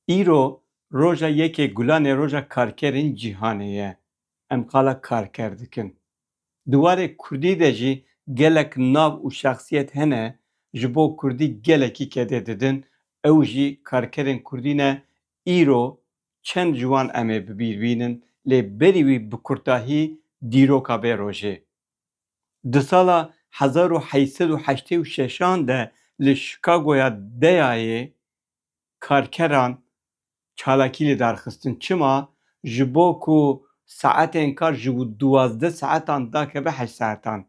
Îro roja yekê gulan ê roja karkerên cîhanê ye. Em qala karker dikin. Di warê kurdî de jî gelek nav û şexsiyet hene ji bo kurdî gelekî kedê didin, ew jî karkerên kurdî ne, îro çend ji wan em ê bi bîr bînin lê berî wî bi kurtahî dîroka vê rojê. Di sala hezar û heşt sed û heştê û şeş an de li Chicagoya Deyayê karkeran çalakî li dar xistin. Çima? Ji bo ku saetên kar ji duwazdeh saetan dakeve heşt saetan.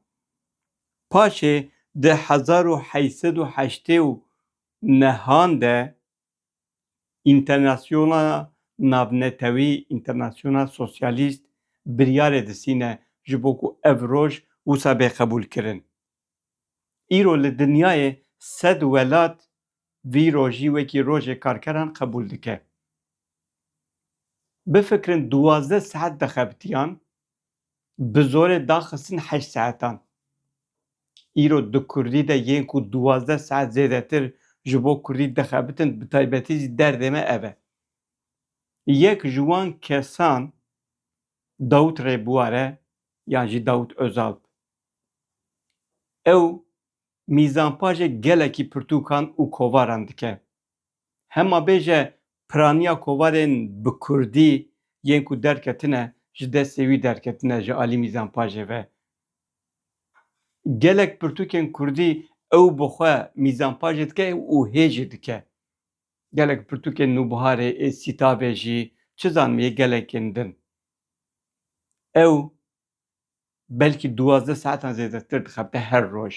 Paşê di hezar û heşt sed û heştê û neh an de Înternasyona navnetewî, International Socialist, biryarê disîne ji bo ku ev roj wisa bê qebûlkirin. Îro li dinyayê sed welat vî rojî wekî Rojê Karkeran qebûl dike. Bifikirin duwazdeh saet dixebitiyan Bi zorê daxistin heşt saetan. Îro di kurdî de yên ku duwazdeh saet zêdetir ji bo kurdî dixebitin bi taybetî jî derdê me ev e. Yek ji wan kesan Dawût Rêbuwar e yan jî Dawût Ozalp. Ew mîzanpajê gelekî pirtûkan û kovaran dike. Hema bêje piraniya kovarên bi kurdî yên ku derketine ji destê wî derketine ji alî mîzan pajê ve. Gelek pirtûkên kurdî ew bi xwe mîzan pajê dike û hê jî dike. Gelek pirtûkên Nûbiharê ê Sîtabê jî çi zanim yê gelekên din. Ew belkî duwazdeh saetan zêdetir dixebite her roj.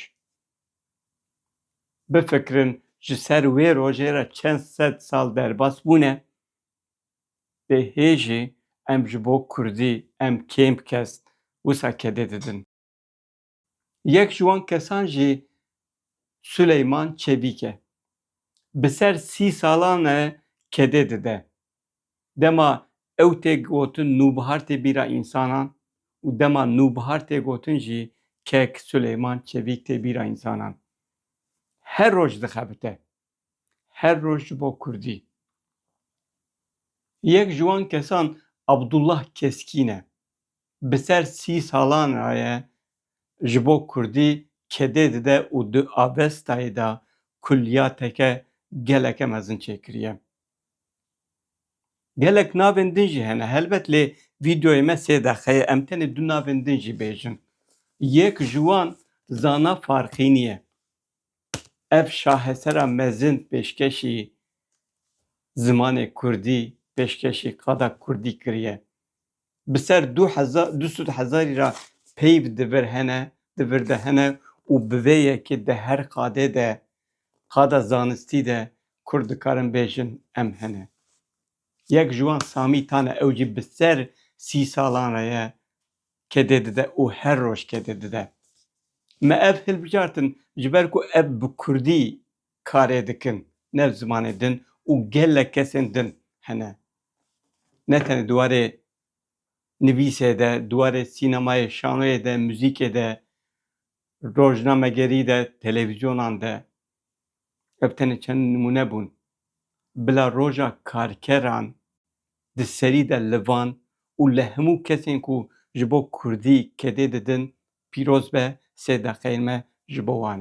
Bifikirin ji ser wê rojê re çend sed sal derbas bûne. Dê hê jî em ji bo kurdî em kêm kes wisa kedê didin. Yek ji wan kesan jî Suleyman Çebîk e. Bi ser sî salan e kedê dide. Dema ew tê gotin nûbihar tê bîra însanan û dema nûbihar tê gotin jî kek, suleyman, çevîk tê bîra însanan. Her roj dixebite. Her roj ji bo kurdî. Yek ji wan kesan Abdullah Keskîn e. Bi ser sî salan re ye ji bo kurdî kedê dide û di avestayê de kulliyateke geleke mezin çêkiriye. Gelek navên din jî hene helbet lê vîdeoyê me sê deqe ye em tenê du navên din jî bêjin. Yek ji wan Zana Farxînî ye. Ev şahesera mezin pêşkêşî zimanê kurdî, pêşkêşî qada kurdî kiriye. bi ser du hezar du sed hezarî re peyv di vir hene di vir de hene û bi vê yekê di her qadê de qada zanistî de kurd dikarin bêjin em hene. Yek ji wan Samî Tan e ew jî bi ser sî salan re ye kedê dide û her roj kedê dide. Me ev hilbijartin ji ber ku ev bi kurdî karê dikin ne zimanê din û gelek kesên din hene. Ne tenê di warê nivîsê de, di warê sînemayê, şanoyê de, muzîkê de, rojnamegerî de, televîzyonan de. Ev tenê çend nimûne bûn. Bila roja karkeran di serî de li van û li hemû kesên ku ji bo kurdî kedê didin pîroz be sê deqeyên me ji bo wan e.